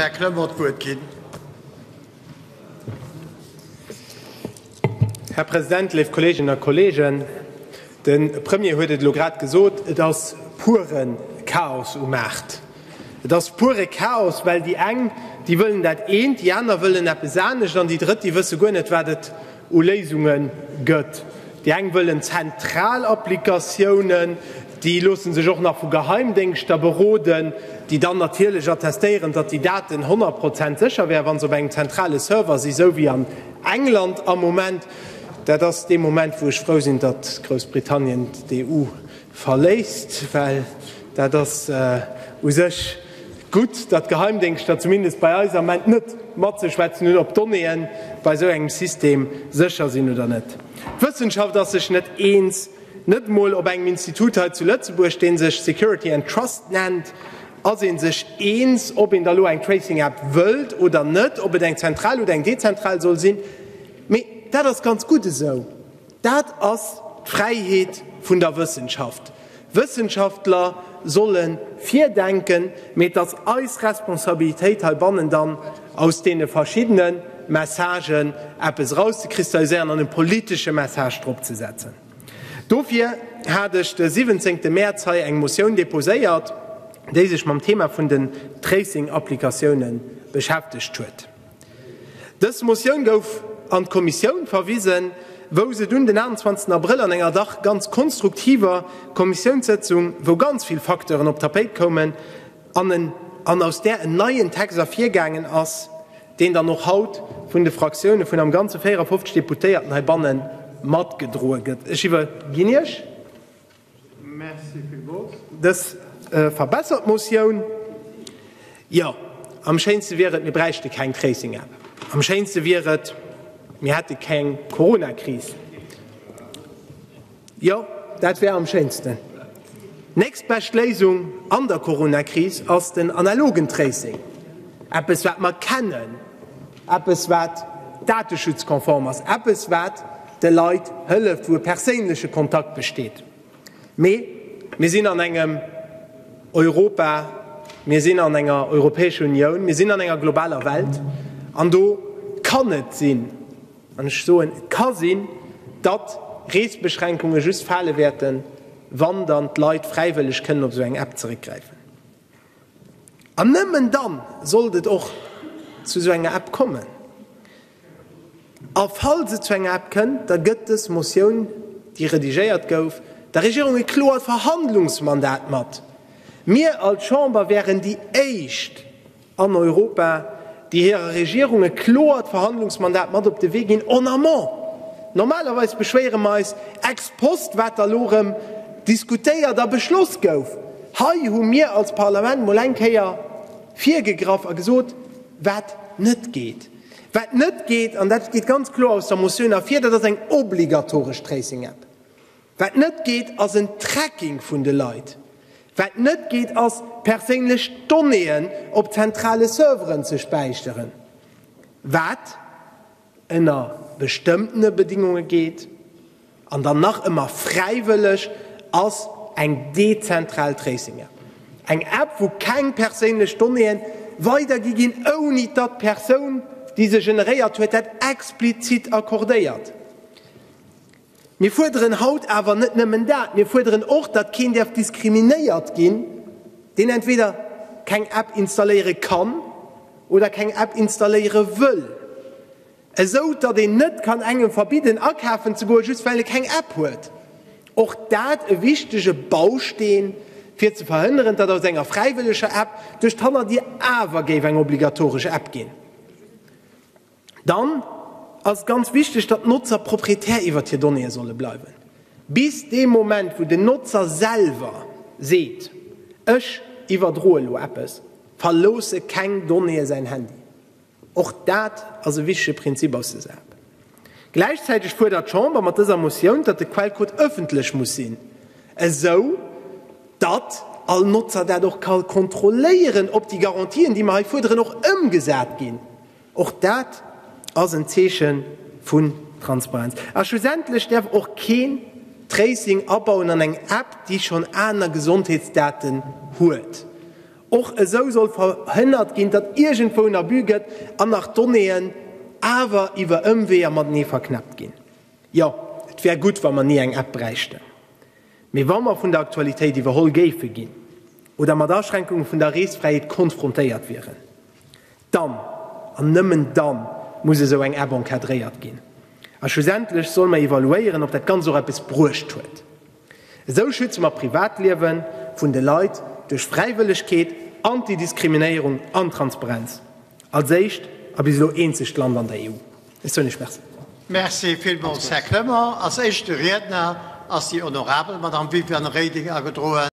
Här Kremer, d'Wuert ginn. Här President, léif Kolleeginnen a Kolleegen, de Premier huet et elo grad gesot, Et ass pure Chaos um Maart. Et ass pure Chaos, well déi eng, déi wëllen dat eent, déi aner wëllen eppes anescht an déi Drëtt, déi wësse guer net, wat et u Léisunge gëtt. Déi eng wëllen zentral Applikatiounen, déi loosse sech och nach vu Geheimdéngschter beroden, déi dann natierlech attestéieren, datt déi Daten honnert Prozent sécher wären, wa se op engem zentrale Server sinn, esou wéi an England am Moment. Dat ass dee Moment, wou ech frou sinn, datt Groussbritannien d'EU Verléisst, well dat ass u sech gutt, datt d'Geheimdéngschter zumindest bei eis am Moment net matzeschwätzen hunn, ob d'Donnéeë bei esou engem System sécher sinn oder net. D'Wëssenschaft ass sech net eens, net emol op engem Institut hei zu Lëtzebuerg, dee sech Security and Trust nennt, ass ee sech eens, ob een da elo eng Tracing-App wëllt oder net, ob et eng zentral oder eng dezentral soll sinn. Mee dat ass ganz gutt esou. Dat ass d'Fräiheet vun der Wëssenschaft. Wëssenschaftler solle virdenken, mee et ass eis Responsabilitéit heibannen dann aus deene verschiddene Messagen eppes erauszekristalliséieren an e politesche Message drop ze setzen. Dofir hat ech de siwwenzéngte Mäerz hei eng Motioun deposéiert, déi sech mam Thema vun den Tracing-Applikatiounen beschäftegt huet. Dës Motioun gouf an d'Kommissioun verwisen, wou se dunn den 28 Abrëll an enger dach ganz konstruktiver Kommissiounssëtzung, wou ganz vill Facteuren op d'Tapéit koumen an en an aus där en neien Text ervirgaangen ass, deen dann och haut vun de Fraktioune vun am Ganze 54 Deputéierten heibanne matgedroe gëtt. Ech iwwerginn Iech. Merci villmools. Dës verbessert Motioun. Jo, am schéinste wier et, mir bräichte keng Tracing-App. Am schéinste wier et, mir hätte keng Corona-Kris. Jo, dat wär am schéinsten. Nächst bescht Léisung an der Corona-Kris ass den analogen Tracing, eppes, wat mer kennen. eppes wat dateschutzkonform ass, eppes wat de Leit hëlleft, wou e perséinleche Kontakt besteet. Mee mir sinn an engem Europa, mir sinn an enger Europäescher Unioun, mir sinn an enger globaler Welt an do kann et sinn, an ech soen et ka sinn, datt Reesbeschränkunge just fale wäerten, wann dann d'Leit fräiwëlleg kënnen op esou eng App zeréckgräifen. An nëmmen dann sollt et och zu esou enger App kommen. A falls et zu enger App kënnt, da gëtt dës Motioun, déi redigéiert gouf, der Regierung e kloert Verhandlungsmandat mat. Mir als Chamber wären déi éischt an Europa, déi hirer Regierung e kloert Verhandlungsmandat mat op de Wee ginn en amont. Normalerweis beschwéiere mer eis ex post, wat da elo erëm diskutéiert a beschloss gouf. Hei hu mir als Parlament mol eng Kéier virgegraff a gesot, wat net geet. Wat net geet, an dat geet ganz kloer aus der Motioun ervir, dat ass eng obligatoresch Tracing-App. Wat net geet, ass en Tracking vun de Leit. Wat net geet, ass, perséinlech Donnéeën op zentrale Serveren ze späicheren. Wat. ënner bestëmmtene Bedingunge geet an dann nach ëmmer fräiwëlleg ass, eng dezentral Tracing-App, eng App, wou keng perséinlech Donnéeë weidergi ginn, ouni datt d'Persoun, déi se generéiert huet, dat explizit accordéiert. Mir fuerderen haut awer net nëmmen dat, mir fuerderen och, datt keen däerf diskriminéiert ginn, deen entweder keng App installéiere kann oder keng App installéiere wëll, esou datt een net kann engem verbidden akafen ze goen, just well e keng App huet. Och dat e wichtege Bausteen, fir ze verhënneren, datt aus enger fräiwëlleger App duerch d'Hannerdier awer géif eng obligatoresch App ginn. Dann ass et ganz wichteg, datt d'Notzer Proprietär iwwert hir Donnéeë solle bleiwen, bis dee Moment, wou den Notzer selwer seet, Ech iwwerdroe lo eppes, verloosse keng Donnéeë säin Handy. Och dat ass e wichtege Prinzip aus de sap. Gläichzäiteg fuerdert d'Chamber mat dëser Motioun, datt de Quellcode ëffentlech muss sinn, esou datt all Notzer dat och ka kontrolléieren, ob déi Garantien, déi mer hei fuerderen, och ëmgesat ginn. Och dat ass en Zeeche vun Transparenz. A schlussendlech däerf och keen Tracing abauen an eng App, déi schonn aner Gesondheetsdaten huet. Och esou soll verhënnert ginn, datt iergendwou en Abus gëtt an nach Donnéeën awer iwwer Ëmweeër matenee verknäppt ginn. Jo, et wär gutt, wa mer ni eng App bräichten. Mee wa mer vun der Aktualitéit iwwerholl géife ginn oder mat Aschränkunge vun der Reesfräiheet konfrontéiert wieren, Dann, an nëmmen dann, muss esou eng App encadréiert ginn. A schlussendlech solle mer evaluéieren, ob dat Ganzt och eppes bruecht huet. Esou schütze mer d'Privatliewe vun de Leit duerch Fräiwëllegkeet, Antidiskriminéierung an Transparenz, als éischt a bis elo eenzegt Land an der EU. Ech soen Iech Merci. Merci villmools, Här Clement. Als éischte Riedner ass déi honorabel Madamm Viviane Reding agedroen.